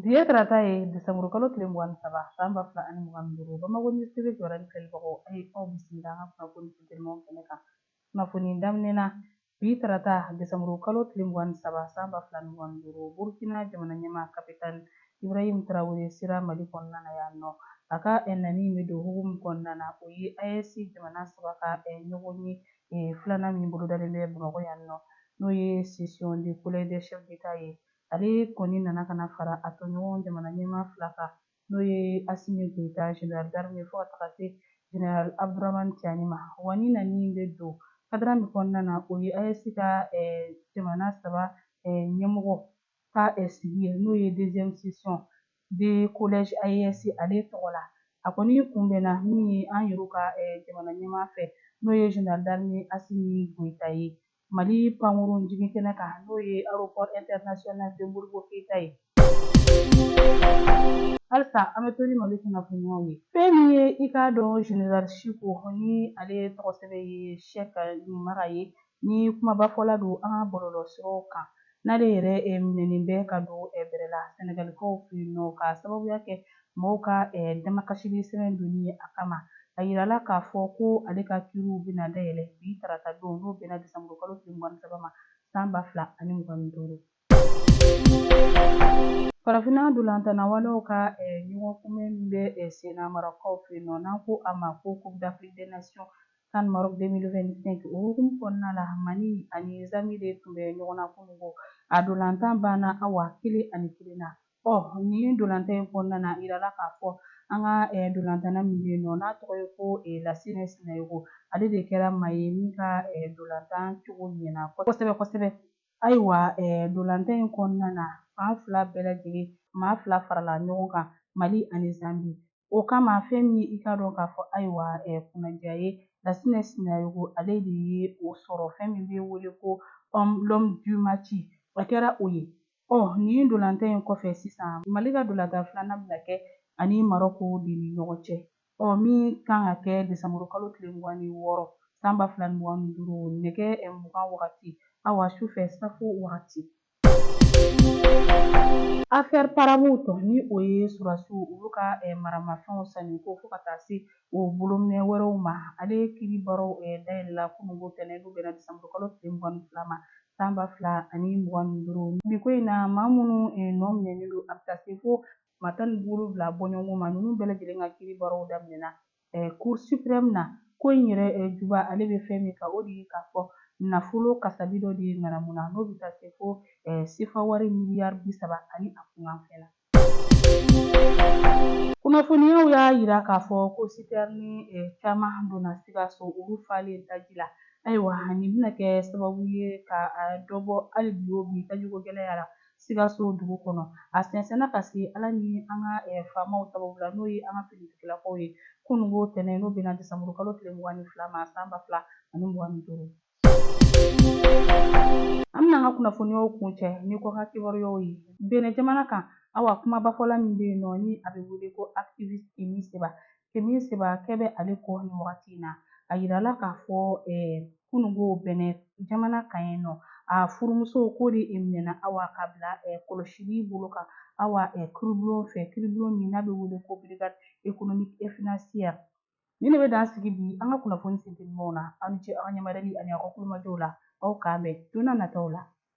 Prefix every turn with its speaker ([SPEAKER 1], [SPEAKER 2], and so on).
[SPEAKER 1] Bi ye tarata ye desanburu kalo tile mugan ni saba san ba fila ani mugan ni duuru Bamako News TV kibaruya ni filɛlibagaw a ye aw bisimila an ka kunnafoni funtenimanw kɛnɛ kan. Kunnafoni daminɛ na, Bi tarata desanburu kalo tile mugan ni saba san ba fila ni mugan ni duuru, Burukina jamanaɲɛmaa Capitaine Ibrahim Traore sera Mali kɔnɔna na yan nɔ. A ka nani in bɛ don hukumu kɔnɔna na, o ye AES jamana saba ka ɲɔgɔnye filanan min bolodalen bɛ Bamakɔ yan nɔ, n'o ye Session de Collège des Chefs d'Etat ye Ale kɔni nana ka na fara a tɔɲɔgɔn jamana ɲɛmaa fila kan, n'o ye Asimi Goyita, General d'armée, fo ka taga se General Abduraman Tiani ma. Wa nin nani bɛ don kadira min kɔnɔna na, o ye AES ka jamana saba ɲɛmɔgɔ ka sigi ye, n'o ye deuxième session de collège AES ale tɔgɔ la. A kɔni kunbɛnna min ye an yɛrɛ ka jamana ɲɛmaa fɛ, n'o ye General d'armée Asimi Goyita ye, Mali pankurun jigin kɛnɛ kan n'o ye aéroport international de Modibo Keyita ye. Halisa an bɛ to ni Mali kunnafoniyaw ye. Fɛn min ye i k'a dɔn General Chico ni ale tɔgɔ sɛbɛ ye Sɛki Nimaga ye ni kumabafɔla don an ka bɔlɔlɔsiraw kan. N'ale yɛrɛ minɛnen bɛ ka don bɛrɛ la Sɛnɛgalikaw fɛ yen nɔ k'a sababuya kɛ mɔgɔw ka damakasili sɛbɛn donni ye a kama, a yirala k'a fɔ ko ale ka kiiriw bɛna dayɛlɛ bi tarata don n'o bɛnna desanburukalo tile mugan ni saba ma san ba fila ani mugan ni duuru. Farafinna ndolantanna waanew ka ɲɔgɔn kunbɛn min bɛ senna Marɔkkaw fɛ yen nɔ n'an ko a ma ko Coupe d'Afrique des Nations CAN Maroc 2025 o hukumu kɔnɔna la, Mali ani Zambie de tun bɛ ɲɔgɔn na kunungo. A dolantan banna awa kelen ani kelen na. Ɔ nin dolantan in kɔnɔna na, a yirala k'a fɔ an ka dolantanna min bɛ yen nɔ, n'a tɔgɔ ye ko Lassine Sinayogo, ale de kɛra maa ye min ka dolantan cogo ɲɛna kosɛbɛ kosɛbɛ. Ayiwa dolantan in kɔnɔna na, fan fila bɛɛ lajɛlen maa fila farala ɲɔgɔn kan, Mali ani Zambie. O kama fɛn min i k'a dɔn k'a fɔ ayiwa kunnaja ye Lasinɛ Sinayogo ale de ye o sɔrɔ fɛn min bɛ wele ko l'homme du match a kɛra o ye ɔ nin dolantan in kɔfɛ sisan Mali ka dolantan filanan bɛna kɛ ani Marɔko de ni ɲɔgɔn cɛ ɔ min kan ka kɛ desanburu kalo tile mugan ni wɔɔrɔ san ba fila ni mugan ni duuru nɛgɛ mugan wagati awa su fɛ safo wagati Affaire Paramount ni o ye sɔrɔdasiw olu ka maramafɛnw sanni ko fo ka taa se o bolominɛn wɛrɛw ma ale kiiri baaraw dayɛlɛla kunun ko tɛnɛn n'o bɛnna desanburu kalo tile mugan ni fila ma san ba fila ani mugan ni duuru bi ko in na maa minnu nɔ minɛnen don a bɛ taa se fo maa tan ni wolonwula bɔɲɔgɔnko ma ninnu bɛɛ lajɛlen ka kiiri baaraw daminɛna Cour suprême na, ko in yɛrɛ juba ale bɛ fɛn min kan, o de ye k'a fɔ nafolo kasabi dɔ de ye ŋanamu na, n'o bɛ taa se fo sefa wari miliyari bi saba ani a kunkanfɛn na. Kunnafoniyaw y'a yira k'a fɔ ko sitɛrini caman donna Sikaso, olu falen taji la. Ayiwa, nin bɛna kɛ sababu ye ka dɔ bɔ hali bi o bi tajiko gɛlɛya la. Sikaso dugu kɔnɔ. A sɛnsɛnna ka se Ala ni an ka faamaw sababu la, n'o ye an ka finitigilakaw ye, kununko tɛnɛn, n'o bɛnna desanburukalo tile mugan ni fila ma san ba fila ani mugan ni duuru. An bɛna an ka kunnafoniyaw kuncɛ ni kɔkan kibaruyaw ye Benin jamana kan. Awa, kumabafɔla min bɛ yen nɔ ni a bɛ wele ko activiste Kemi Seba, Kemi Seba kɛ bɛ ale kɔ nin wagati in na a yirala k'a fɔ kununko Benin jamana kan yen nɔ a furumuso k'o de minɛna awa k'a bila kɔlɔsili bolo kan awa kiiribulon fɛ kiiribulon min n'a bɛ wele ko brigade économique et financière nin de bɛ dan sigi bi an ka kunnafoni sentelimaw na aw ni ce aw ka ɲɛmadali ani aw ka tulomajɔ la aw k'an bɛn don nataw la